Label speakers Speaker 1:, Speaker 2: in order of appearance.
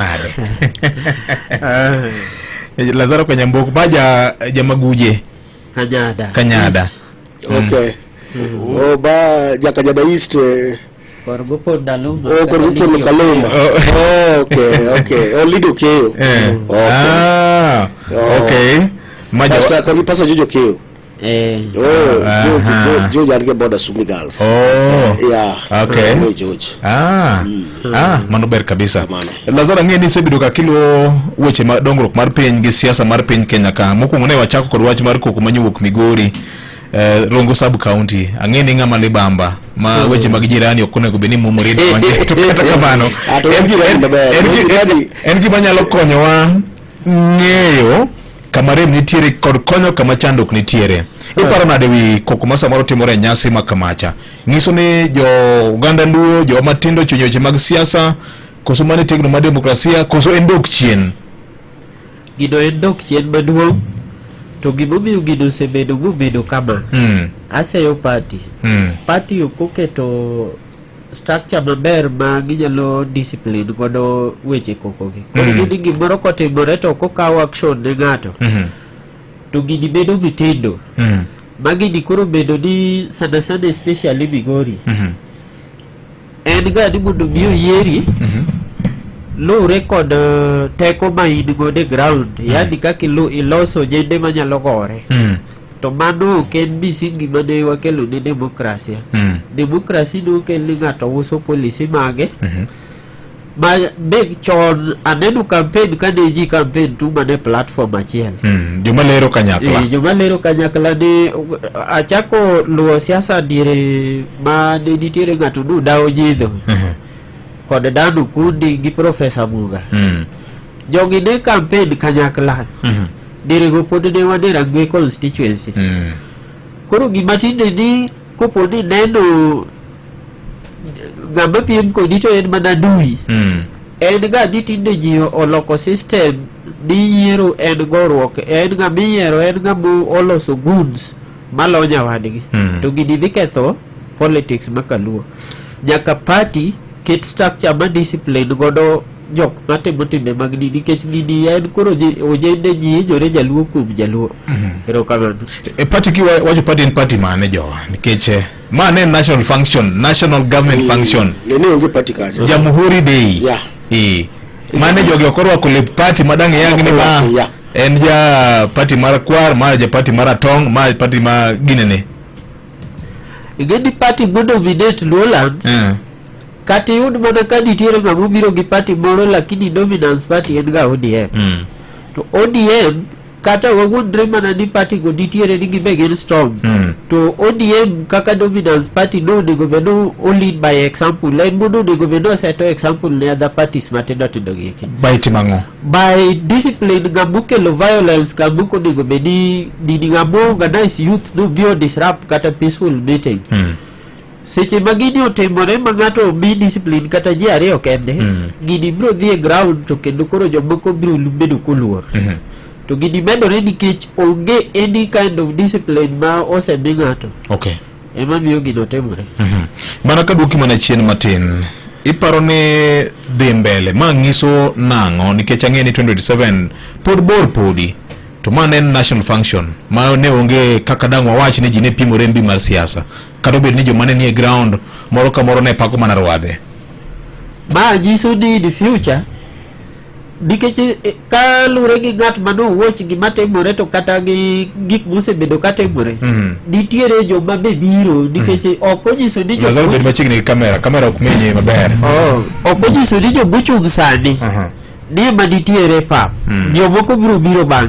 Speaker 1: are Eh, lazaro kanyambok ba ja jamaguje kanyada kanyada East. Okay.
Speaker 2: Oh, ba Jakajada East. eh, kor gupod
Speaker 3: dalum Oh, kod gupod Lukaluma.
Speaker 2: Oh, okay, okay. Oh, Lido Keyo. Eh. Okay. Ah,
Speaker 1: okay maja Pastor, kod
Speaker 2: gi Pastor Jojo Keyo. Eh. Oh, George, Aha. George, George alike boda Sumi Girls.
Speaker 1: Oh. Yeah.
Speaker 2: Okay. Mwe George. Ah.
Speaker 1: Ah, mano ber kabisa. Kamano. Lazaro ang'e ni isebedo ka kilo weche ma dongruok mar piny gi siasa mar piny Kenya ka. Mokwongo ne wachako kod wach mar koko manyowuok Migori. Eh, Rongo sub county ang'e ni ng'ama libamba ma weche mag jirani ok onego bed ni mumore to kata kamano Ah, to en gi- jirani en- maber. en gi- Jirani- en gima nyalo konyowa ng'eyo kama rem nitiere kod konyo kama chandruok nitiere. Iparo nade wi koko ma samoro timore e nyasi ma kamacha? Nyiso ni jo oganda Luo, jo matindo chwenyo weche mag siasa, koso mane tegno ma demokrasia, koso en dok chien.
Speaker 3: Gino en dok chien maduong' to gimomiyo gino osebedo mobedo kama Mm. aseyo party Mm. party ok oketo structure maber ma ginyalo discipline godo weche kokogi koro mm. gini gimoro kotimore to kokaw action ne ng'ato mm -hmm. to gini bedo mitindo mm -hmm. ma gini koro bedo ni sana sana especially migori mm -hmm. en ga ni mondo mi oyieri mm -hmm. luwre kod uh, teko ma in godo e ground mm -hmm. yani kaka iloso jende manyalo gore mm -hmm. to mano ok en misingi mane wakelo ne demokrasia mm. demokrasi ne okel ni ng'ato uso polisi mage mm -hmm. ma big chon aneno campaign kane ji campaign tu mane platform achiel mm. joma lero
Speaker 1: kanyakla e, joma lero kanyakla ne achako luwo siasa diere ma ne nitiere ng'ato nu dawo nyidho mm -hmm. kod danu kundi gi profesa muga mm. jogi ne campaign kanyakla mm -hmm. Derego pod ne wadera gwe constituency. Mm. Koro gima tinde ni kopo ni neno ng'ama piem kodi to en mana dui. Mm. En ga ni tinde ji oloko system ni yiero en goruok en ng'ama iyiero en ng'ama oloso goods malonya wadgi. Mm. To gini dhi ketho politics ma kaluo. Nyaka party ket structure ma discipline godo jok matimo timbe mag dini nikech gini en koro ojende ji hinyore jaluo kuom jaluo mhm. erokamano e pati ki wacho pati en pati mane jowa nikech eh, ma ne national function national government function ne onge pati kacha
Speaker 2: jamhuri day
Speaker 1: yeah. e mane jogi okorwako lep pati madang' yang ni ma en ja pati mar kwar ma ja pati mar atong' ma pati ma ginene
Speaker 3: ing'e ni pati mondo minate luoland yeah. Kata iyud mana ka nitiere ng'ama obiro gi party moro lakini dominance party en ga ODM. Mm. To ODM kata wawuondre mana ni party go nitiere ni gibe gin strong. Mm. To ODM kaka dominance party no onego bed ni o lead by example. En mondo onego bed ni oseto example ne other parties matindo tindo gi eki. Baiti mang'o?
Speaker 1: by
Speaker 3: discipline ng'ama okelo violence ng'ama ok onego bed ni nini ng'ama organize youth no biro disrupt kata peaceful meeting Mm. seche ma gini otimore ma ng'ato omi discipline kata ji ariyo kende mm. gini biro dhi e ground to kendo koro jomoko biro bedo koluor mm -hmm. to gini medore nikech onge any kind of discipline ma osemi ng'ato okay. ema miyo gino timore mm -hmm. mana ka
Speaker 1: duoki mana chien matin iparo ni dhi mbele ma ng'iso nang'o nikech ang'e ni 2027 pod bor podi to ma ne en national function ma ne onge kaka dang' wawach ni ji ne pimore mbi mar siasa kata obed ni joma ne nie ground moro ka moro ne pako mana rwadhe ma
Speaker 3: nyiso ni in future nikech eh, ka lure gi ng'at ma nowuoch gima timore to kata gi gik mosebedo ka timore Mhm. nitiere joma be biro nikech ok onyiso ni lazaro joma- bed machiegni gi kamera
Speaker 1: kamera ok menye maber Oh, ok onyiso
Speaker 3: ni joma ochung' sani Aha. ni ema nitiere pap Mhm. jomoko biro biro bang'e